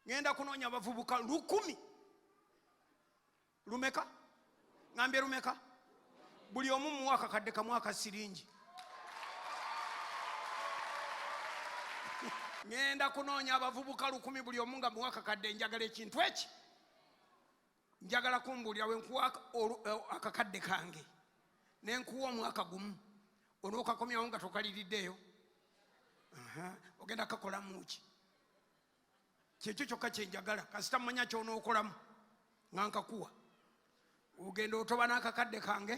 ngenda kunoonya abavubuka lukumi lumeka ngambye lumeka buli omu muwa akakadde kamu akasiringi ngenda kunoonya abavubuka lukumi buli omu nga muwa akakadde njagala ekintu eki njagala kumbuulira we nkuwa eh, akakadde kange ne nkuwa omwaka gumu onookakomyawo nga tokaliriddeeyo ogenda kakolamu ki kyekyo kyokka kyenjagala kasita mumanya kyonookolamu nga nkakuwa ogenda otoba n'akakadde kange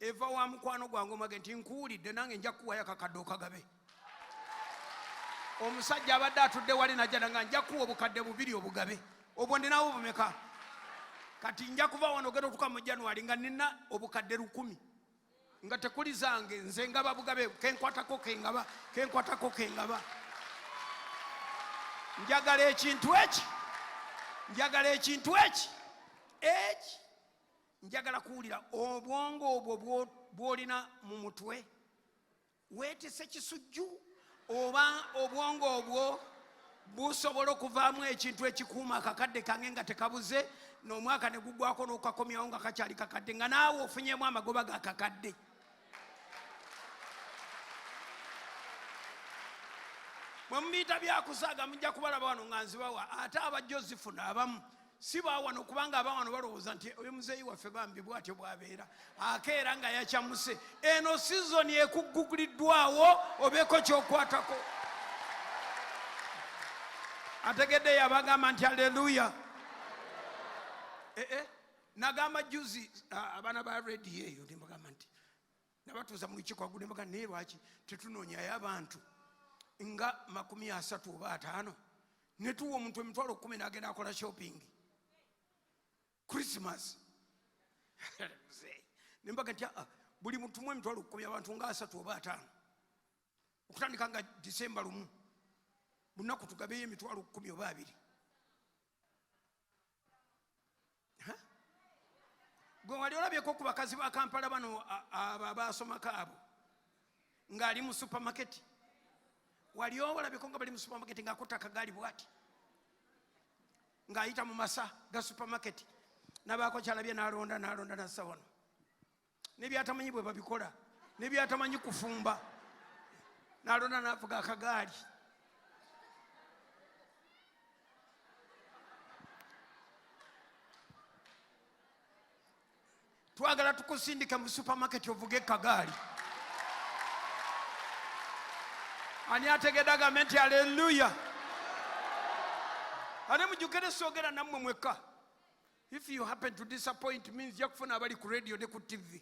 eva wa mukwano gwange omage nti nkuwulidde nange nja kukuwayo akakadde okagabe omusajja abadde atudde wali najjana nga nja kuwa obukadde bubiri obugabe obwo ndinawo bumeka kati nja kuva wano ogenda otuka mu january nga nina obukadde lukumi nga tekuli zange nze ngaba bugabe kenkwatako kengaba kenkwatako kengaba njagala ekintu eki njagala ekintu eki eki njagala kuwulira obwongo obwo bwolina mu mutwe weetese kisujju oba obwongo obwo busobola okuvaamu ekintu ekikuuma akakadde kange nga tekabuze n'omwaka ne gugwako n'okukakomyawo nga kakyali kakadde nga naawe ofunyemu amagoba ga kakadde bwe mumuyita byakusaaga mujja kubalaba wano nga nzibawa ate abajja ozifuna abamu si bawano kubanga abawano balowooza nti oyo muzeeyi waffe bambi bwatyo bwabeera akeera nga yacamuse eno sizoni ekugguliddwawo obeeko kyokwatako ategedde yabagamba nti aleluya eh, eh. nagamba juzi abaana ba redi eyo nembagamba nti nabatuuza mu lukiiko agudde mbaga naye lwaki tetunoonyayo abantu nga makumi asatu oba ataano netuwa omuntu emitwalo kumi nagenda akola shopping christmas nembaga nti ah, buli mutumu emitwalo kumi abantu nga asatu oba ataano okutandika nga disemba lumu bunaku tugabeyo emitwalo kumi oba abiri gwe wali olabyeko ku bakazi ba kampala bano abo abaasomako abo ng'ali mu supamaketi wali olabyeko nga bali mu supamaketi ng'akuta akagaali bwati ng'ayita mu masa ga supamaketi nabaako kyalabye nalonda nalonda nassa wano nebyatamanyi bwe babikola nebyatamanyi kufumba nalonda navuga akagaali twagala tukusindika mu supermarket ovuge kagaali ani ategede agambe nti aleluya ate mujukire soogera nammwe mwekka If you happen to disappoint means nja kufuna abali ku radio ne ku TV.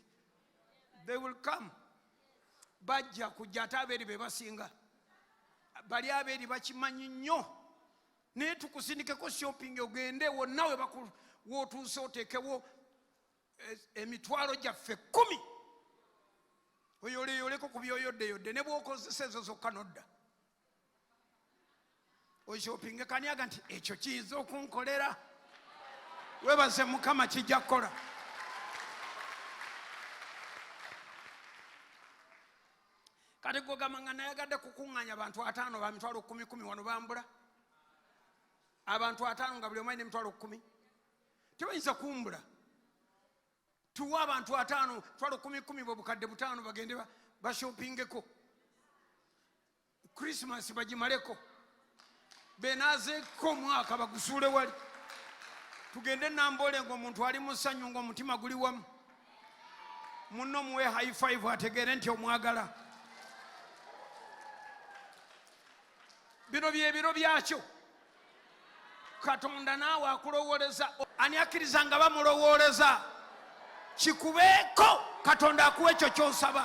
They will come. Bajja kujja ate abeeri be basinga. Bali abeeri bakimanyi nnyo. Naye tukusindikeko shopping ogende wonna we bakulu w'otuuse oteekewo eh, emitwalo gyaffe kkumi. Oyoleeyoleko ku byoyoddeyodde ne bw'okozesa ezo zokka n'odda. oshopinge kaniaga nti ekyo kiyinza okunkolera webaze mukama kijja kukola kati gwogamba nga nayagadde kukuŋŋanya abantu ataano ba mitwalo kumi kumi wano bambula abantu ataano nga buli omu alina emitwalo kumi tebayinza kumbula tuwe abantu ataano twala kumi kumi bwebukadde butaano bagende bashopingeko krisimas bagimaleko benazeko omwaka bagusuule wali tugende namboole nga omuntu ali musanyu nga omutima guli wamu muno muwe high five ategeere nti omwagala bino byebiro byakyo katonda naawe akulowoleza ani akkiriza nga bamulowoleza kikubeeko katonda akuwa ekyo kyosaba